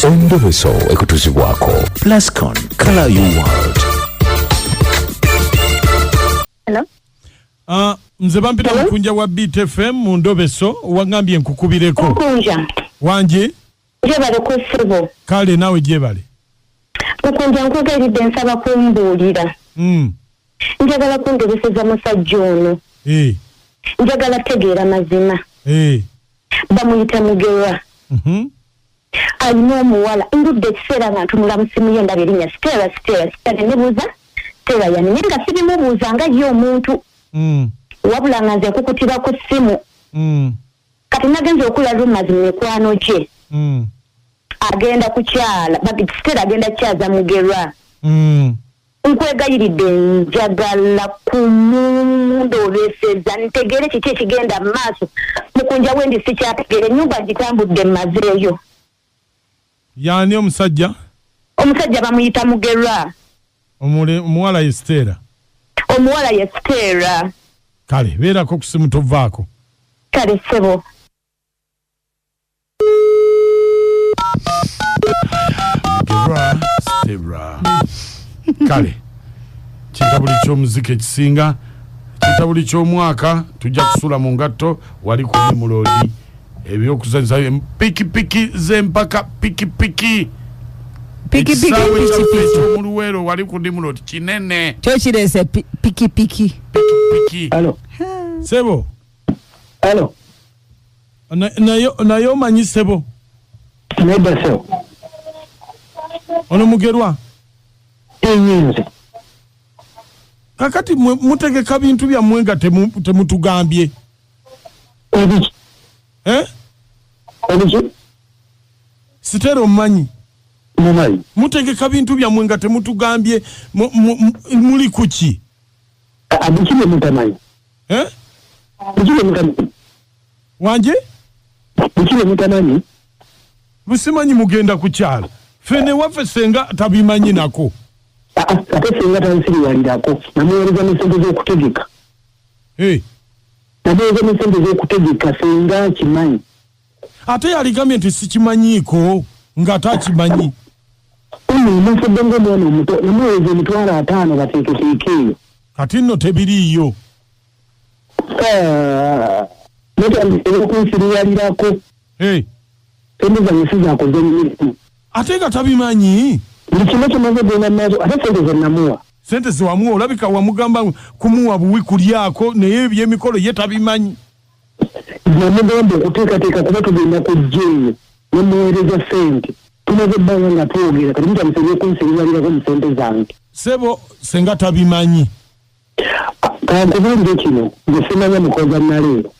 endobeso ekutuzibwako plascon color you world Hello? Ah, nze bampita mukunja wa beat fm mu ndobeso wangambye nkukubireko mukunja wangi jebale ku ssebo kale naawe gyebale mukunja nkwogeridde nsaba kumbuulira Mm, njagala kundobeseza musajja ono eh, njagala tegeera mazima eh, bamuyita mugerwa mhm. alina omuwala ndudde ekiseera nga ntunula musimu ye ndaba erinya stera stera stera nenebuuza stera yani naye nga sibimubuuza nga ye omuntu mm. wabula nga nze nkukutira ku ssimu mm. kati nagenza okula rumas mu mikwano gye mm. agenda kukyala stera agenda kukyaza mugerwa Nkwegayiridde njagala kumunda olweseza ntegeere kiki ekigenda mu maaso mukunja wendi sikyategeera ennyumba ngitambudde mmazeeyo. Y'ani omusajja? Omusajja bamuyita Mugerwa. Omuwala ye Siteera? Omuwala ye Siteera. Kale beerako ku ssimu tovaako. Kale ssebo. kale kitabuli kyomuzika ekisinga kitabuli kyomwaka tujja kusula mu ngatto wali kuli muloodi ebyokuzanyisa pikipiki zempaka pikipiki ekisaawe kyaffe ekyomuluweero wali ku dimulodi kinene kyokirese pikipiki pikipiki sebo naye omanyi sebo nedda sebo ono mugerwa enyinzi kakati mutegeka bintu byammwe nga temutugambye ebiki eh? ebiki sitera omumanyi mumanyi mutegeka bintu byammwe nga temutugambye muli kuki abiki byemutamanyi eh? wangi musimanyi mugenda kukyalo fene waffe senga tabimanyi nako ah, ah, ate senga tansiriwalirako namuwereza nesente zokutegeka eh. namuwereza nesente zokutegeka senga akimanyi ate yaligambye nti sikimanyiiko ng'ate akimanyi omufudde ngaomwana omuto namuweza emitwalo ataano bateeketeeke eyo kati nno tebiriiyo ah, nokunsiriwalirako emizanyisi zakoze mirimu ate nga tabimanyi buli kimu kimaze genda maaso ate sente zenamuwa sente zewamuwa olabika wamugamba kumuwa buwi kulyako naye ebyemikolo ye tabimanyi namugamba okuteekateeka kuba tugenda kujja eyo nemuweereza sente tumaze ebbanga nga twogera kati mutandise ebyokunsiriralirako mu sente zange sebo senga tabimanyi kankubuulire kino nge simanya mukoza naleero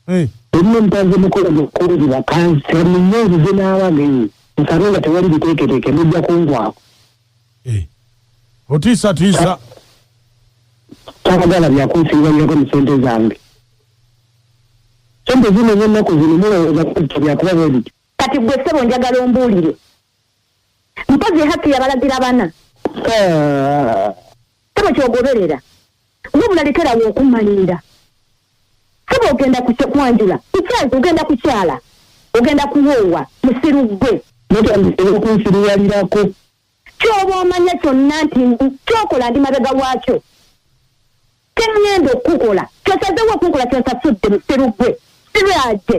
eh. erimu omutanze mukola mukunzi bakansi amunyezi zenaaba ngenyi nsabe nga tewali biteeketeeke mujja kungwako Eh, otiisa tiisa tabagala byakunsiibanyako mu sente zange sente zino ezennaku zino mulowooza kuta byakuba bwebityo kati gwe sebo njagala ombuulire mpozi haki yabalagira bana ah. sebo kyogoberera wabula lekerawo okumalinda sebo ogenda kwanjula kukyaza ogenda kukyala ogenda kuwoowa musiru gwe mutandikira okunsiruwalirako kyoba omanya kyonna nti kyokola ndi mabega waakyo kyeŋŋenda okukukola kyosazewo okunkola kyonsasudde musiru gwe sirwaje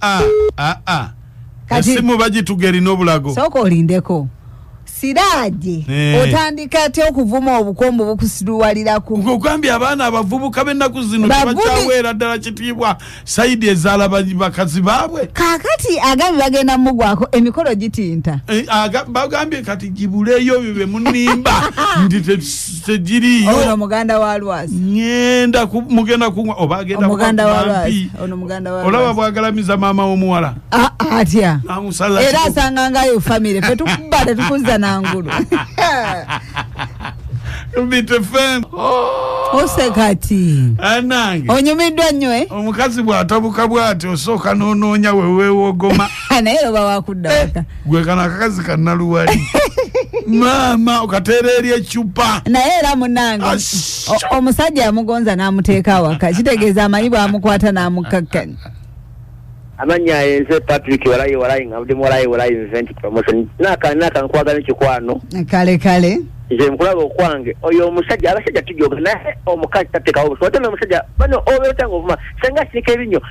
Ah, ah, ah. Kati- esimu bagituga erina obulago sooka olindeko siraje Eh. otandika atya okuvuma obukombo bukusiruwaliraku nkugambye abaana abavubuka b'ennaku zino Bavubi- tebakyaweera ddala kitiibwa sayidi ezaala ba- bakazi baabwe kakati agabi bagenda mumugwako emikolo gitinta Eh, aga- bagambye kati gibuleeyo byo bye munimba nti te- tegiriyo ono muganda wa lwazi ngenda ku mugenda ku oba agenda ku muganda wa lwazi ono muganda wa olaba bwagalamiza mama omuwala ah, ah, atya amusala era asanga ngayo family fe tukubale tukunza nangulu bitefem oh. osekati anange onyumiddwa nnyo eh? omukazi bwatabuka bwati osooka nonoonya wewewogoma naye oba wakudda waka eh. gwe kano akakazi kanaluwali maama okateera eri ecupa naye era munange Ash. o- omusajja yamugonza n'amuteeka awaka kitegeeza amanyi bwamukwata n'amukkakkanya amanya yenze patrick walayi walayi nga mudemu walayi walayi nze nti promotion naka naka nkwagala ekikwano kale kale nze nkulaba okwange oyo omusajja abasajja tujoga naye omukazi tatekawo obusobozi ate n'omusajja bano obeera otanga ovuma senga asiika ebinnyo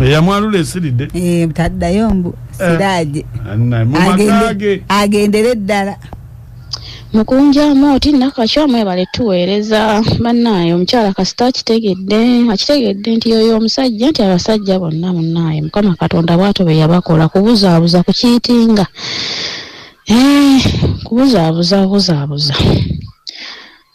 eyamwalula esiridde eh, taddayo mbu eh, siraje agendere eddala mukunjamu oti nakakyo mwebale tuweereza bannaaye omukyala kasita akitegedde akitegedde nti yoyo omusajja nti abasajja bonna munnaaye mukama katonda bwato be yabakola kubuzaabuza ku kiitinga eh, kubuzaabuza buzaabuza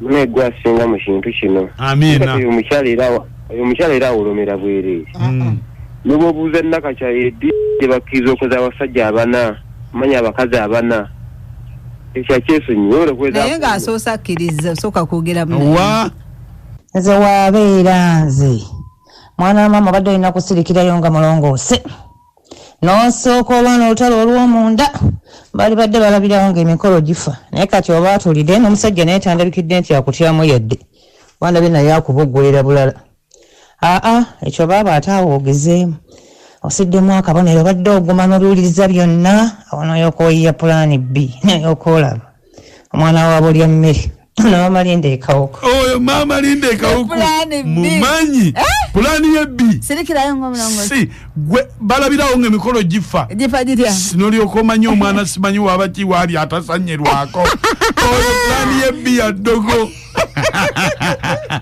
Mune gwe asinga mu kintu kino. Amiina. Oyo omukyala era oyo omukyala era awolomera bwereere. Mm. Ne bw'obuuza Nakakya edi gye bakkiriza okuza abasajja abana manya abakazi abana ekyo akyesonyiwa oyo okuweza. Naye ng'asoose akkiriza osooka kwogera mu. Wa. Nze waabeera nze mwana wa maama obadde olina kusirikirayo nga mulongoose. n'osooka olwana olutalo olw'omunda bali badde balabirawo ng'emikolo gifa naye kati oba atulide n'omusajja naye tandabikidde nti akutyamu yadde wandabye naye akubuggulira bulala aa ekyo baaba ate awo ogezeemu osiddemu akabonero badde oguma n'obiwuliriza byonna awo n'oyokooyiya pulaani bbi naye okoolaba omwana wabo lya mmere maama linda ekawuka oyo maama linda ekawuka mumanyi eh? pulaani ye bbi si gwe balabirawo nga emikolo gifa nolyoka omanyi omwana simanyi waba ki waali atasanyerwako oyo pulaani ye bbi ya ddogo